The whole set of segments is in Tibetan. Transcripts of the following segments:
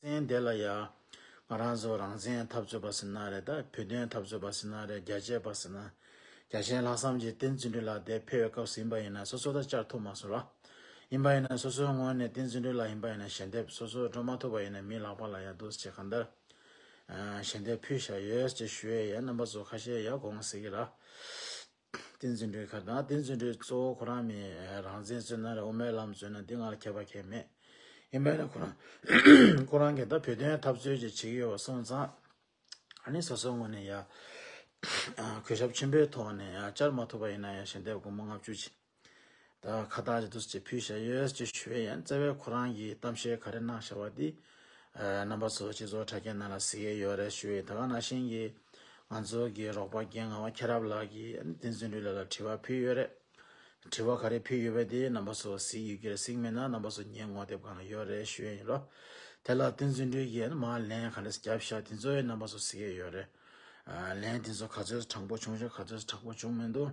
བཙན་དེ་ལ་ཡང། ང་རང་ཚོ་རང་བཙན་འཐབ་རྩོད་པ་ཟེར་ན་རེད་ད་བོད་དོན་འཐབ་རྩོད་པ་ཟེར་ན་རེད་རྒྱལ་གཅེས་པ་ཟེར་ན། རྒྱ་གཞན་ལྷག་བསམ་གྱིས་བསྟན་བརྩོན་འགྲུས་ལགས་དེ་ཕལ་བའི་སྐབས་སུ་ཡིན་པ་ཡིན་ན་སོ་སོ་ད་བཅར་ཐུབ་མ་སོང་ར། ཡིན་པ་ཡིན་ན་སོ་སོའི་སྔོན་ནས་བསྟན་བརྩོན་འགྲུས་ལགས་ཡིན་པ་ཡིན་ན་ཞལ་འདེབས་སོ་སོ་འགྲོ་མ་ཐུབ་པ་ཡིན་ན་མིའི་ལག་པ་ལ་ཡང་འདུག་ཅེས་གང་ལྟར། ཞལ་འདེབས་ཕུལ་བཞག་ཡོད་ཅེས་ཞུ་ཡས་ཡས་རྣམ་པ་ཚོ་ཁ་ཤས་ཡ་དགོངས་ཟེར་གི་ར། ཏིང་འཛིན་གྲོལ་ཁ་དང་ཏིང་འཛིན་གྲོལ་གཙོ་བོ་ཁོ་རང་མིན། རང་མཚན་བརྩོན་ན་རེ་འོ་མའི་ལམ་བརྩོན་ན་འདི་ང་ལ་ཁྱད་པར་ཁྱད་མེད། ཡིན་པས་ན་ཁོ་རང། ཁོ་རང་གིས་ད་བོད་དོན་འཐབ་རྩོད་ཀྱི་བྱེད་ཀྱི་ཡོད་པ་སོང་ཙང། ནི་སོ་སོའི་ངོས་ནས་ཡ། གུས་ཞབས་ཆེན་པོའི་ཐོག་ནས་ཡ་བཅར་མ་ཐུབ་པ་ཡིན་ན་ཡང་ཞལ་འདེབས་སྒོར་མོ་ལྔ་བཅུ་བྱིན། ད་ཁ་བཏགས་ཀྱི་དུས་ཀྱི་ཕུད་བྱས་ཡོད་ཅེས་ཞུ་བའི་ཡན་བཙལ་བས་ཁོ་རང་གིས་གཏམ་བཤད་ག་རེ་གནང་བྱ་བ་འདི། རྣམ་པ་ཚོ་སྤྱི་ཚོགས་དྲ་རྒྱའི་ནང་ལ་གཟིགས་ཡས་ཡོད་རེད་ཞུ་བས་ད་ག་ན་བཞིན་གྱི། ང་ཚོ་གི་རོགས་པ་རྒན་ངག་དབང་ཁྱེད་རབ་ལགས་ཀྱིས་བསྟན་འཛིན་ལུས་ལ་ལ་དྲི་བ་ཕུལ་ཡོད་རེད། དྲི་བ་ག་རེ་ཕུལ་ཡོད་པའི་དེ་རྣམ་པ་ཚོ་གཟིགས་ཡོད་ཀྱི་རེད་གཟིགས་མེད་ན་རྣམ་པ་ཚོ་ཉན་ངོ་དེབ་གང་ལ་ཡོད་རེད་ཞུ་ཡས་ཡིན་ལོ། དེ་ལ་བསྟན་འཛིན་ལུས་ཀྱིས་མ་ལན་ག་རེ་རྒྱབ་བྱ་དེ་ཚོའི་རྣམ་པ་ཚོ་གཟིགས་ཡས་ཡོད་རེད། ལན་དེ་ཚོ་ག་ཚོད་ཚོ་དྲང་པོ་བྱུང་བྱུང་ག་ཚོད་ཚོ་དྲག་པོ་བྱུང་མི་འདུག།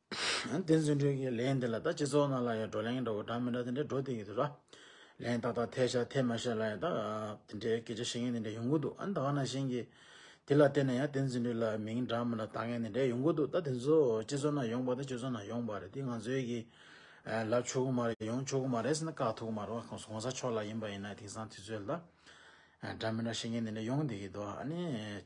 བསྟན་འཛིན་སྒྲོལ་གྱིས་ལན་འདི་ལ་ད་སྤྱི་ཚོགས་ནང་ལ་ཡང་བགྲོ་གླེང་འདྲ་བོ་གྲགས་མི་གྲགས་དེ་འདྲ་བགྲོ་དེ་ཡི་འདུག་ལ། ལན་ཏག་ཏག་འཐད་བྱ་འཐད་མ་བྱ་ལ་ཡང་ད་དེ་འདྲའི་སྐད་ཆ་བཤད་མཁན་དེ་འདྲ་ཡོང་གི་འདུག་ཨ་ད་བ་ན་གཞན་གྱིས་དེ་ལ་བལྟས་ན་ཡང་བསྟན་འཛིན་སྒྲོལ་ལ་མིང་གྲགས་མི་གྲགས་བལྟ་མཁན་དེ་འདྲ་ཡོང་གི་འདུག་ད་དེ་ཚོ་སྤྱི་ཚོགས་ནང་ཡོང་པ་དང་སྤྱི་ཚོགས་ནང་ཡོང་པ་རེད་དེ་ང་ཚོའི་གི་ལབ་ཆོག་གི་མ་རེད་ཡོང་ཆོག་གི་མ་རེད་ཟེར་ན་དཀའ་ཐུག་མ་རེད་གོང་ས་མཆོག་ལ་ཡིན་པ་ཡིན་ན་དེང་སང་དུས་ཚོད་ལ་འདྲ་མི་འདྲ་བཤད་མཁན་དེ་འདྲ་ཡོང་དེ་ཡི་འདུག་ཨ་ནི།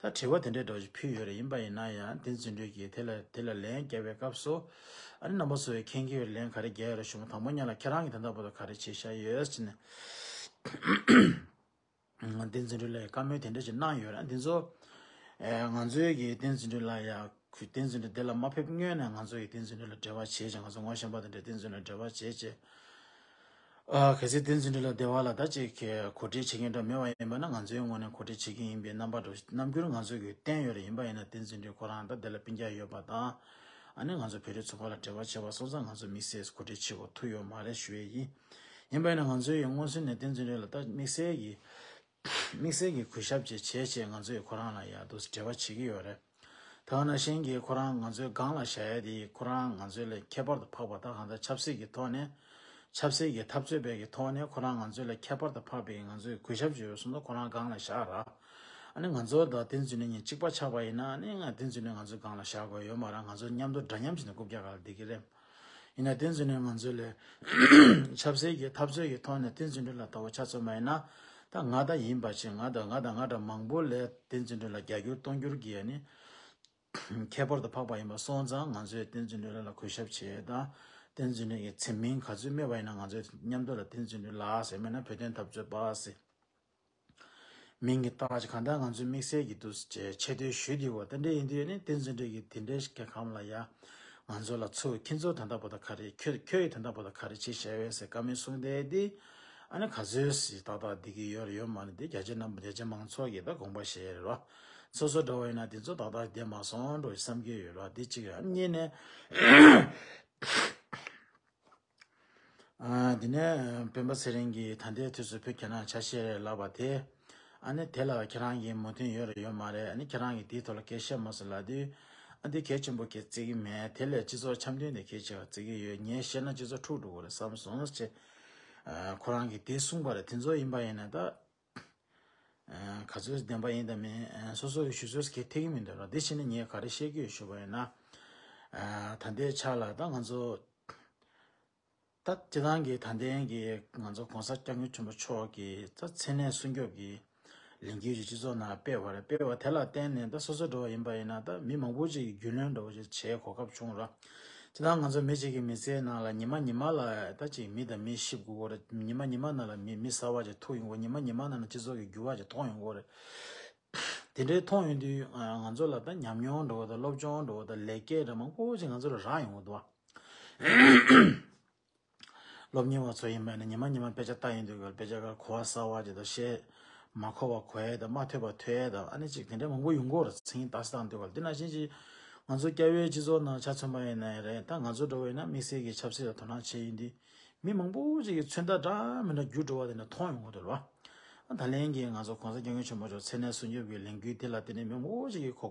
ད་དྲི་བ་དེ་འདྲའི་སྒྲོགས་ཤིག་ཕུལ་ཡོད་རེད་ཡིན་པ་ཡིན་ན་ཡང་དེ་རྫུན་སྒྲོས་ཀྱིས་དེ་ལ་དེ་ལ་ལན་བརྒྱབ་པའི་སྐབས་སུ། ཨ་རི་ནང་པ་ཚོ་བས་ཁྱེད་ཀྱིས་ལན་ག་རེ་རྒྱག་ཡོད་རེད་བྱུང་དང་པོ་ཉན་ལ་ཁྱེད་རང་གིས་དེ་འདྲ་བོ་དང་ག་རེ་བྱེད་ཤ་ཡོད་ཅེས་ནས། ང་དེ་རྫུན་སྒྲོས་ལ་ཡང་བཀའ་མོལ་དེ་འདྲ་ཞིག་གནང་ཡོད་རེད་ཨ་འདི་ཚོ། ང་ཚོའི་གིས་དེ་རྫུན་སྒྲོས་ལ་ཡང། ཁོས་བསྟན་འཛིན་དེ་ལ་མ་ཕེབས་སྔོན་ནས་ང་ཚོ་ཡིས་བསྟན་འཛིན་ལ་འབྲེལ་བ་བྱས་ཅིང་ང་ཚོ་ངོ་ཤེས་པ་དེ་འདྲས་བསྟན་འཛིན་ལ་འབྲེལ་བ་བྱས་རྗེས། གལ་སྲིད་བསྟན་འཛིན་ལ་སྡེ་བ་ལ་ད་ཅིག་གིས་གོ་སྒྲིག་བྱེད་མཁན་འདྲ་མེད་པ་ཡིན་པ་ན་ང་ཚོའི་ངོས་ནས་གོ་སྒྲིག་བྱེད་མཁན་ཡིན་པའི་རྣམ་པ་འགྲོ་རྣམ་འགྱུར་ང་ཚོ་གིས་བསྟན་ཡོད་རེ་ཡིན་པ་ཡིན་ན་བསྟན་འཛིན་ཁོ་རང་ད་སྡེ་ལ་སྤིན་རྒྱག་ཡོད་པ་དང། ཨ་ནེ་ང་ཚོ་བོད་རིགས་ཚོ་བར་ལ་འབྲེལ་བ་བྱས་པ་སོང་ཙང་ང་ཚོ་དམིགས་བསལ་གོ་སྒྲིག་བྱེད་དགོས་ཐུག་ཡོད་མ་རེད་ཞུ་ཡས་ཡིན། ཡིན་པ་ཡིན་ན་ང་ཚོའི་ཡིས་མངོན་སུན་ནས་བསྟན་འཛིན་རེ་ལ་ད་དམིགས་བསལ་གྱིས་དམིགས་བསལ་གྱི་གུས་ཞབས་བཅས་བྱས་བྱས་ང་ཚོས་ཁོ་རང་ལ་ཡག་སྡུག་འབྲེལ་བ་བྱེད་ཀྱི་ཡོད་རེད། ད་ང་ན་གཞན་གྱིས་ཁོ་རང་ང་ཚོའི་སྒང་ལ་བཞག་ཡ་དེ་ཡིས་ཁོ་རང་ང་ཚོའི་ལས་ཁྱད་པར་དུ་འཕགས་པ་དང་གང་ལྟར་ཆབ་སྲིད་ཀྱི་ཐོག་ནས། ཆབ་སྲིད་ཀྱི་འཐབ་རྩོད་བེད་ཀྱི་ཐོག་ནས་ཁོ་རང་ང་ཚོའི་ལས་ཁྱད་པར་དུ་འཕགས་པས་ང་ཚོས་གུས་ཞབས་བྱེད་འོས་སོང་ད་ཁོ་རང་སྒང་ལ་བཞག་ར། ཨ་ནི་ང་ཚོ་དང་དེ་མཛོད་ནས་ཉིན་གཅིག་པ་ཆགས་པ་ཡིན་ན་ཨ་ནི་ང་དེ་མཛོད་ནས་ང་ཚོའི་སྒང་ལ་བཞག་དགོས་ཡོད་མ་རང་ང་ཚོ་མཉམ་དུ་འདྲ་མཉམ་བྱས་ནས་རྐུབ་བཀྱག་ག་ལ་བསྡིགས་ཀྱི་རེད། ཡིན་ན་དེ་འཛིན་གྲྭའི་ངང་ཚུལ་ལས། ཆབ་སྲིད་ཀྱི་འཐབ་རྩོད་ཀྱི་ཐོག་ནས་དེ་འཛིན་གྲྭ་ལ་དོ་བ་ཆ་ཚོད་མ་ཡིན་ན། ད་ང་ད་ཡིན་པ་ཆེ་ང་དང་ང་དང་ང་འདྲ་མང་པོ་ལས་དེ་འཛིན་གྲྭ་ལ་རྒྱ་སྒྱུར་སྟོང་སྒྱུར་གྱི་ཡ་ནི། ཁྱད་པར་དུ་འཕགས་པ་ཡིན་པ་སོང་ཙང་ང་ཚོས་དེ་འཛིན་གྲྭའི་ལ་ལ་གུས་ཞབས་བྱེད་ད། དེ་འཛིན་གྲྭའི་ཡི་ཚིམ་མིང་ག་ཚོད་སྨོས་པ་ཡིན་ན་ང་ཚོས་མཉམ་དུ་ལ་དེ་འཛིན་གྲྭའི་ལ་ཟེར་མེད་ན་བོད་དོན་འཐབ་རྩོད་པ་ཟེར། མིང་གི་སྟོན་པ་ཞིག་གང་ལྟར་ང་ཚོས་དམིགས་བསལ་གྱིས་འདུ་ཅེས་ཆེ་བསྟོད་ཞུས་དེའོ་རྟེན་འབྲེལ་ཡིན་དུས་ཡོད་ནི་རྟེན་རྫུན་འབྲེལ་གྱི་དེ་འདྲའི་སྐད་ཁམས་ལ་ཡ། ང་ཚོ་ལ་ཚུར་ཁྱེད་ཚོ་དེ་འདྲ་པོ་ད་ག་རེད་ཁྱོད་ཁྱོད་ཡི་དེ་འདྲ་པོ་ད་ག་རེད་ཅེས་ཞལ་བས་ཟེར་ཀ་མེད་གསུངས་བསྡད་དེ། ཨ་ནི་ག་ཚོད་སི་ཏག་ཏག་བསྡད་ཀྱི་ཡོད་རེད་ཡོད་མ་རེད་དེ་རྒྱ་ཆེ་རྣམས་རྒྱ་ཆེ་མང་ཚོགས་ཀྱི་ད་དགོངས་པ་ཞེ་རེད་ར། སོ་སོ་འདྲ་བོ་ཡིན་ན་དེ་ཚོ་ཏག་ཏག་བསྡད་མ་སོང་འགྲོ་ཞེས་བསམ་གྱི་ཡོད་ར་དེ་གཅིག་རེད་ཨ་གཉིས་ནས། དེ་ནས་སྤེན་པ་ཚེ་རིང་གིས་ད་ལྟའི་དུས་སུ་བུ་ཁྱེད་རང་ཆ་ཤས་རེད་ལབ་པ་དེ། ཨ་ནི་དེ་ལ་ཁྱེད་རང་གིས་མོས་མཐུན་ཡོད་རེད་ཡོད་མ་རེད་ཨ་ནི་ཁྱེད་རང་གིས་དེའི་ཐོག་ལ་སྐད་བཤད་མ་ཟེར་ལབ་དུས། ཨ་འདི་གལ་ཆེན་པོ་གལ་བརྩི་གི་མེད་དེ་ལས་སྤྱི་ཚོགས་འཆམ་མཐུན་དེ་གལ་ཆེ་བ་བརྩི་གི་ཡོད་ངས་བཤད་ན་སྤྱི་ཚོགས་འཁྲུག་འགྲོ་གི་རེད་བསམ་སོང་ཟེར། ཁོ་རང་གིས་དེ་གསུངས་པ་རེད་དེ་ཚོ་ཡིན་པ་ཡིན་ན་ད། ག་ཚོད་བདེན་པ་ཡིན་དང་མིན་སོ་སོ་ཡི་ཞུ་ཚོད་ཀྱི་ཐིག་མི་འདོད་རོགས་དེ་བཞིན་ངས་ག་རེ་བཤད་རྒྱུ་ཡོད་ཞུ་བ་ཡིན་ན། ད་ལྟའི་ཆ་ལ་ད་ང་ཚོ་ད་སྤྱི་བཏང་གི་ད་ལྟའི་གི་ང་ཚོ་གོང་ས་སྐྱབས་མགོན་ཆེན་པོ་མཆོག་གི་ད་མཚན་གནས་སྲུང་སྐྱོབ་ཀྱི་ལས་འགུལ་གྱི་སྤྱི་ཚོགས་ནང་སྤེལ་བ་རེད་སྤེལ་བ་དེ་ལ་བརྟེན་ནས་ད་སོ་སོ་འགྲོ་བ་ཡིན་པ་ཡིན་ན་ད་མི་མང་པོ་ཅིག་རྒྱུས་ལོན་འགྲོ་བ་ཅིག་བྱེད་གོ་སྐབས་བྱུང་རོགས། ཇི་ལྟར་ང་ཚོ་མི་གཅིག་གི་མི་ཚེའི་ནང་ལ་ཉི་མ་ཉི་མ་ལ་ད་གཅིག་མི་དང་མི་གཤིབ་དགོས་སྐོར་རེད། ཉི་མ་ཉི་མ་ནང་ལ་མི་མི་ཟ་བ་ཅིག་ཐུག་ཡོང་སྐོར་ཉི་མ་ཉི་མ་ནང་ལ་སྤྱི་ཚོགས་ཀྱི་འགྱུར་བ་ཅིག་མཐོང་ཡོང་སྐོར་རེད། དེ་འདྲའི་མཐོང་ཡོང་དུས་ང་ཚོ་ལ་ད་ཉམས་མྱོང་འགྲོ་བ་དང་སློབ་སྦྱོང་འགྲོ་བ་དང་ལེགས་སྐྱེས་འདྲ་མང་པོ་ཅིག་ང་ཚོར་རག་ཡོང་བ་འདུག། སློབ་གཉེར་བ་ཚོ་ཡིན་པས་ན་ཉི་མ་ཉི་མ་དཔེ་ཆ་ལྟ་ཡིན་དུས་ཀྱི་དཔེ་ཆ་ཁར་གོ་བ་ས་བ་ཅིག་དང་ཤེས་མ་ཁོ་བ་གོ་ཡས་དང་མ་ཐོས་པ་ཐོས་ཡས་དང་ཨ་ནི་ཅིག་དེ་འདྲས་མང་པོ་ཡོང་གོ་ཚིག་ཡིན་དྭགས་སེ་དང་དུས་ཀྱི་དེ་ནང་བཞིན་ཅིག་ང་ཚོ་སྐྱ་བོའི་སྤྱི་ཚོགས་ནང་ཆ་མཚོན་པ་ཡིན་ནའི་རེད་ད་ང་ཚོ་འགྲོ་བས་ན་དམིགས་བསལ་གྱི་ཆབ་སྲིད་ལ་དོ་སྣང་བྱས་ཡོད་དུས་མི་མང་པོ་ཅིག་གི་མཚོན་རྟགས་འདྲ་མིན་འདྲ་འགྱུར་འགྲོ་བ་དེ་ནས་མཐོང་ཡོང་གོ་འདུག་ལ། ད་ལན་གྱི་ང་ཚོ་གོང་ས་སྐྱབས་མགོན་ཆེན་པོ་མཆོག་ཚེ་ནས་སྲུང་སྐྱོབ་ཀྱི་ལས་འགུལ་དེ་ལ་བརྟེན་ནས་མི་མང་པོ་ཅིག་གིས་གོ་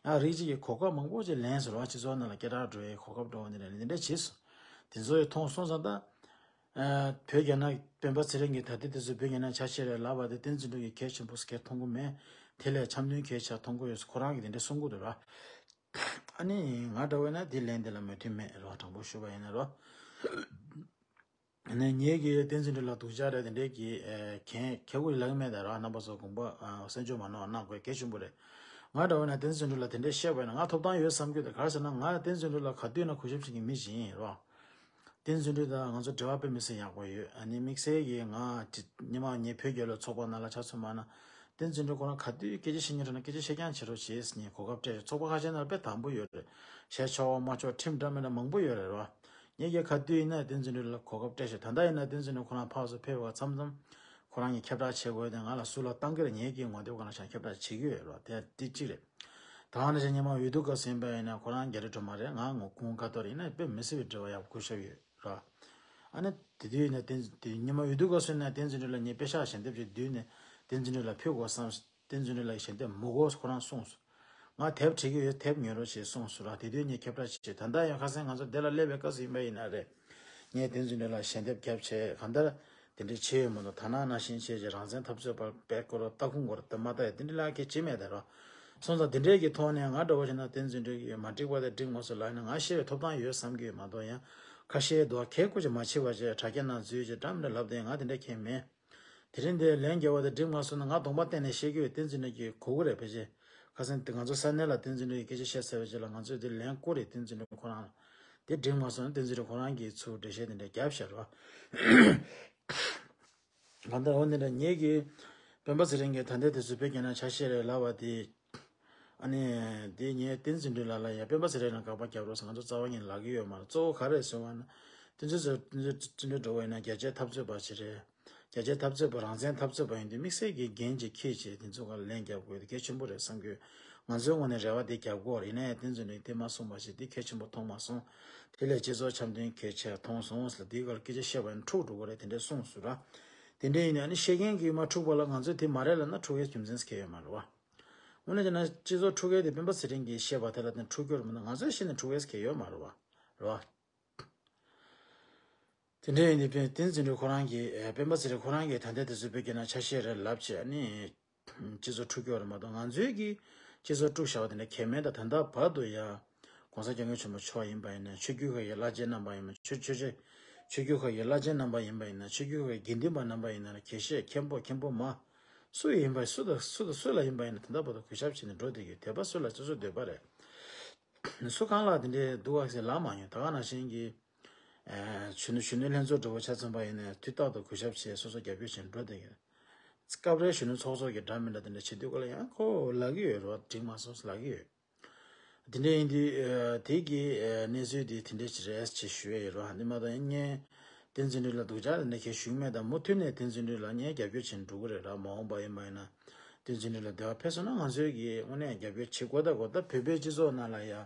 ཡང་རིགས་ཅིག་གིས་གོ་སྐབས་མང་པོ་ཅིག་ལེན་ཟེར་བ་སྤྱི་ཚོགས་ནང་ལ་སྐད་གྲགས་འགྲོ་བའི་གོ་སྐབས་འགྲོ་བ་འདི་ནས་འདི་འདྲས་བྱས་སོ། དེ་ཚོ་ཡི་ཐོང་སོང་ཙང་ད། བོད་རྒྱ་ནག་སྤེན་པ་ཚེ་རིང་གི་ད་ལྟའི་དེ་ཚོ་བོད་རྒྱ་ནག་ཆ་ཤས་རེད་ལབ་པ་དེ་བསྟན་འཛིན་དྲུག་གི་གལ་ཆེན་པོ་སྐད་མཐོང་གི་མེད། དེ་ལས་འཆམ་མཐུན་གལ་ཆེ་མཐོང་གི་ཡོད་ཁོ་རང་གི་དེ་འདྲའི་གསུང་གི་རེད་རོ། ཨ་ནི་ང་འདྲ་བོ་ན་དེ་ལན་དེ་ལ་མོས་མཐུན་མེད་རོ་དྲང་པོ་ཞུ་བ་ཡིན་ན་རོ། ནས་ངེད་ཀྱིས་བསྟན་འཛིན་སྒྲོལ་ལ་དུག་ཅག་རེད་དེ་འདྲས་ཀྱིས་གན་ཁྱེད་ཁོ་ཡི་ལག་མེད་དང་རག་རྣམ་པ་ཚོ་དགོངས་པ་སེམས་ཆོས་མ་ནོར་བ་གནང་དགོས་གལ་ཆེན་པོ་རེད། ང་འདྲ་བ་ནས་བསྟན་འཛིན་སྒྲོལ་ལ་དེ་འདྲས་བཤད་པ་ཡིན་ན་ང་ཐོབ་ཐང་ཡོད་བསམ་གྱི་འདུག་ག་ཟེར་ན་ང་བསྟན་འཛིན་སྒྲོལ་ལ་ག་དུས་ན་གུས་ཞབས་བྱེད་ཀྱི་མི་ཞིག་ཡིན་རོགས། བསྟན་འཛིན་སྒྲོལ་དང་ང་ཚོ་འབྲེལ་བ་དཔེ་མི་སེ་ཡག་པོ་ཡོད་ཨ་ནི་དམིགས་བསལ་གྱིས་ང་ཉི་མ་ངེད་བོད་རྒྱལ་ལོ་ཚོགས་པ་ནང་ལ་ཆ་མཚོན་མ་ན་བསྟན་འཛིན་སྒྲོལ་ཁོ་རང་ག་དུས་སྐད་ཆ་བཤད་ཉན་དྲན་ན་སྐད་ཆ་བཤད་རྐྱང་བྱེད་རོགས་བྱས་ཉེས་གོ་སྐབས་སྤྲད་རེད་ཚོགས་པ་ཁ་ཤས་ནང་ལ་དཔེ་དང་པོ་ཡོད་རེད་བཤད་ཆོག་མ་ཆོག་ཁྲིམས་འདྲ་མིན་འདྲ་མང་པོ་ཡོད་རེད་རོགས། ངས་རྒྱལ་ཁ་དུས་ཡིན་ན་བསྟན་འཛིན་ལུས་ལ་གོ་སྐབས་སྤྲད་ཤོག་ད་ལྟ་ཡིན་ན་བསྟན་འཛིན་ལུས་ཁོ་རང་ཕག་སུ་ཕེབས་བ་ཙམ་ཙམ་ཁོ་རང་གཉིས་ཁྱབ་བསྒྲགས་བྱེད་དགོས་ཏེ་ང་ལ་སུ་ལ་བཏང་གིར་ངེད་ཀྱིས་ངོ་དེབ་གང་ལ་བཞག་ཁྱབ་བསྒྲགས་བྱེད་ཀྱི་ཡོད་རོགས་དེ་ཏི་གཅིག་རེད། ད་ང་རང་ཅག་ཉིན་མ་འོས་བསྡུ་སྐབས་ཟིན་པ་ཡིན་ན་ཁོ་རང་རྒྱ་རི་སྒྲོལ་མ་རེད་ང་ངོ་ཀུན་དགའ་ཐོར་ཡིན་ན་དཔེ་མི་སྲིད་པའི་འབྲེལ་བ་ཡག་པོ་འཁུར་ཤོག་ཡོད་རོགས་ཨ་ནི་དེ་དུས་ཡིན་ན་བསྟན་ཉིན་མ་འོས་བསྡུ་སྐབས་སུ་ཡིན་ན་བསྟན་འཛིན་ལུས་ལ་ངས་དཔེ་ཤག་ཞལ་འདེབས་ཀྱི་དུས་ནས་བསྟན་འཛིན་ལུས་ལ་ཕུལ་དགོས་བསམ་བསྟན་འཛིན་རི་ལགས་ཞལ་འདེབས་མུག་ཨོ་ཁོ་རང་གསུངས་སོ། ང་དེབ་བྲི་གི་ཡོད་དེབ་ཉོས་རོགས་ཞེས་གསུངས་སོ་ར་དེ་དུས་ངས་ཁྱབ་བསྒྲགས་བྱས་ད་ལྟ་ཡང་ཁ་སེང་ང་ཚོ་བདེ་ལ་སླེབས་པའི་སྐབས་སུ་ཡིན་པ་ཡིན་ན་རེད། ངས་བསྟན་འཛིན་རི་ལགས་ཞལ་འདེབས་རྒྱབ་ཆད་གང་ལྟར་དེ་འདྲའི་བྱེད་ཡོད་མ་མདོག་ཐ་ན་ན་ཤིང་ཆེ་ཆེ་རང་བཙན་འཐབ་རྩོད་པར་བེད་སྐོར་བ་སྟག་ཁུང་སྒོར་དེབ་མ་བལྟ་ཡི་བསྟན་འཛིན་ལགས་ཁྱེད་བྱེད་མེད་དེ་རོགས། སོང་ཙང་དེ་འདྲའི་གི་ཐོག་ནས་ང་འདྲ་བོ་ཞིག་ན་བསྟན་འཛིན་བྲི་གི་ཡོད་མ་བྲིས་པ་དེ་བྲིས་ངོ་སོ་ལགས་ནས་ང་ཤེས་པའི་ཐོབ་ཐང་ཡོད་བསམ་གི་ཡོད་མ་མདོག་ཡང་ཁ་ཤའི་རྡོག་ཁའི་སྐོར་ཅིག་མ་བྱིས་པ་བྱས་དྲ་རྒྱ་ནང་འཛུལ་ཅིག་དྲ་མི་འདྲ་ལབ་དེ་ཡིན་ང་དེ་འདྲ་མཁྱེན་མེད། དེ་རིང་འདིར་ལན་རྒྱལ་བ་དང་སྒྲིབ་ང་སོགས་ནི་ང་གདོང་པ་བསྟན་ནས་བཤད་རྒྱུ་ཡི་བསྟན་འཛིན་གྲོལ་གྱི་གོ་གུ་རེད་ཕལ་ཆེར། ཁ་སང་འདི་ང་ཚོ་ས་གནས་ལ་བསྟན་འཛིན་གྲོལ་གྱི་སྐད་ཆ་བཤད་ཚར་བའི་རྗེས་ལ་ང་ཚོས་འདིར་ལན་བསྐུར་རེ་བསྟན་འཛིན་གྲོལ་ཁོ་རང་ལ། དེ་སྒྲིབ་ང་སོགས་ནི་བསྟན་འཛིན་གྲོལ་ཁོ་རང་གིས་ཚུར་འགྲེལ་བཤད་དེ་འདྲ་རྒྱབ་ཤར་བ། གང་ལྟར་འོ་འདི་འདྲ་ཉིད་ཀྱིས། དཔོན་པོ་ཚེ་རིང་གིས་ད་ལྟའི་དུས་སུ་བོད་རྒྱ་ནང་ཆ་ཤས་རེ་ལབ་པ་དེས། ཨ་ནི། དེ་ངས་བསྟན་ཟིན་དུས་ལ་ལ་ཡ་དཔོན་པ་ཟེར་རེད་ན་དགག་པ་རྒྱབ་རོགས་ང་ཚོ་རྩ་བ་ཉིད་ལག་གི་ཡོད་མ་རེད་གཙོ་བོ་ག་རེད་ཟེར་བ་ན། དེ་ཚོས་ཟེར་བ་དེ་ཚོས་བརྩི་འགྲོ་བ་ཡིན་ན་རྒྱ་ཆེ་འཐབ་རྩོད་པ་ཞིག་རེད། རྒྱ་ཆེ་འཐབ་རྩོད་པ་རང་བཙན་འཐབ་རྩོད་པ་ཡིན་དུས་དམིགས་བསལ་གྱི་འགན་ཅིག་ཁྱེད་ཀྱིས་དེ་ཚོ་ག་ལ་ལན་རྒྱབ་དགོས་དེ་གལ་ཆེན་པོ་རེད་བསམ་གྱི། ང་ཚོའི་ངོ་ནས་རེ་བ་དེ་རྒྱབ་དགོས་ཡིན་ན་ཡང་བསྟན་ཟིན་དུས་དེ་མ་གསུངས་པ་ཞིག་དེ་གལ་ཆེན་པོ་མཐོང་མ་སོང། དེ་ལས་སྤྱི་ཚོགས་འཆམ་མཐུན་གལ་ཆེ་མཐོང་སོང་ཟེར་ལ་དེའི་སྐོར་སྐད་ཆ་བཤད་པ་ཡང་འཁྲུག་འགྲོ་གི་རེད་དེ་འདྲས་གསུངས་ཟུར་ར། དེ་འདྲ་ཡིན་ན་ནི་བཤད་མཁན་གྱིས་མ་འཁྲུགས་པ་ལ་ང་ཚོས་དེ་མ་རེད་ལབ་ན་འཁྲུག་ཡའི་རྒྱུ་མཚན་གཟིགས་ཡོད་མ་རེད་བ། དངོས་གནས་བྱས་ན་སྤྱི་ཚོགས་འཁྲུག་ཡའི་དེ་སྤེན་པ་ཚེ་རིང་གིས་བཤད་པ་དེ་ལ་བརྟེན་འཁྲུག་རྒྱུར་མིན་ན་ང་ཚོས་ཤེས་ནས་འཁྲུག་ཡའི་གཟིགས་ཡོད་མ་རེད་བ། དེ་འདྲ་ཡིན་དུས་བསྟན་འཛིན་གྲོལ་ཁོ་རང་གིས་སྤེན་པ་ཚེ་རིང་ཁོ་རང་གི་དོན་དེ་དེ་ཚོས་བོད་རྒྱ་ནང་ཆ་ཤས་རེད་ལབ་ཅེས་ནི། སྤྱི་ཚོགས་ཁྲུག་ཁྱོག་རེད་མ་གཏོགས་ང་ཚོའི་གི་སྤྱི་ཚོགས་དཀྲུག་བཞག་པ་དེ་འདྲ་གལ་མེད་ད་ད་ལྟ་བར་དུ་ཡང ྋགོང་ས ྋསྐྱབས་མགོན་ཆེན་པོ་མཆོག་ཡིན་པ་ཡིན་ན་ཆོས་རྒྱུད་ཁག་གི་བླ་ཆེན་རྣམ་པ་ཡིན་པ་ཆོས་ཆོས་ཆོས་ཆོས་རྒྱུད་ཁག་གི་བླ་ཆེན་རྣམ་པ་ཡིན་པ་ཡིན་ན་ཆོས་རྒྱུད་ཁག་གི་དགེ་འདུན་པ་རྣམ་པ་ཡིན་ན་གལ་བཤད་མཁན་པོ་མཁན་པོ་མ་སུ་ཡིན་པ་སུ་དང་སུ་དང་སུ་ལ་ཡིན་པ་ཡིན་ན་ད་ལྟ་བར་དུ་གུས་ཞབས་བྱེད་ནས་འགྲོ་བསྡད་ཀྱི་དད་པ་སུ་ལ་སོ་སོ་འདོད་པ་རེད་སུ་གང་ལ་དེ་འདྲའི་སྡུག་བསྔལ་ལ་མ་མྱོང་ད་ག་ནང་བཞིན་གྱི། གཞོན་ནུ་གཞོན་ནུའི་ལྷན་ཚོགས་འབྲེལ་བ་ཆ་མཚོན་པ་ཡིན་ནས་དུས་རྟག་ཏུ་གུས་ཞབས་བྱས་སོ་སོ་རྒྱབ་སྐྱོར་བྱེད་འགྲོ་དོན་ཡོད། སྐབས་རེ་གཞོན་ནུ་ཚོགས་གཙོ་གི་འདྲ་མི་འདྲ་དེ་འདྲ་བྱེད་དུས་གོ་ལ་ཡང་ཁོ་ལག་གི་ཡོད་རོགས་བསྒྲིགས་མ་སོང་ལག་གི་ཡོད། དེ་འདྲ་ཡིན་དུས་དེ་གི་གནས་ཚུལ་དེ་དེ་འདྲ་རེད་ཅེས་ཞུ་ཡས་ཡོད་རོགས་འདི་མ་གཏོགས་ཡིན་ངས་བསྟན་འཛིན་འགྲུལ་ལ་སྡུག་ཅག་དེ་འདྲ་ཁྱེད་ཞུགས་མེད་དམ་མུ་མཐུད་ནས་བསྟན་འཛིན་འགྲུལ་ལ་ངས་རྒྱབ་སྐྱོར་བྱེད་འགྲོ་གི་རེད་ར་མ་འོངས་པ་ཡིན་པ་ཡིན་ན་བསྟན་འཛིན་འགྲུལ་ལ་བདེ་བ་འཕེལ་སོང་ན་ང་ཚོའི་གིས་དངོས་གནས་རྒྱབ་སྐྱོར་བྱེད་དགོས་ད་གོ་ད་བོད་པའི་སྤྱི་ཚོགས་ནང་ལ་ཡ།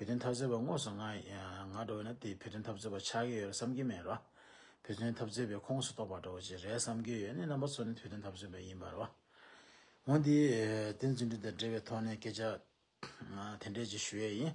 བོད་དོན་འཐབ་རྩོད་པ་དངོས་སུ་ང་ཡང་འགྲོ་བས་ན་དེས་བོད་དོན་འཐབ་རྩོད་པ་ཆགས་ཀྱི་ཡོད་རེད་བསམ་གྱི་མེད་རེད། བོད་དོན་འཐབ་རྩོད་པའི་ཁོངས་སུ་གཏོགས་པ་འགྲོ་བ་ཅིག་རེད་བསམ་གྱི་ཡོད་ནི་རྣམ་པ་ཚོ་ནི་བོད་དོན་འཐབ་རྩོད་པ་ཡིན་པ་རེད། ངོས་འདི་བསྟན་འཛིན་སྒྲོན་དང་འབྲེལ་བའི་ཐོག་ནས་སྐད་ཆ་དེ་འདྲས་ཅིག་ཞུ་ཡས་ཡིན།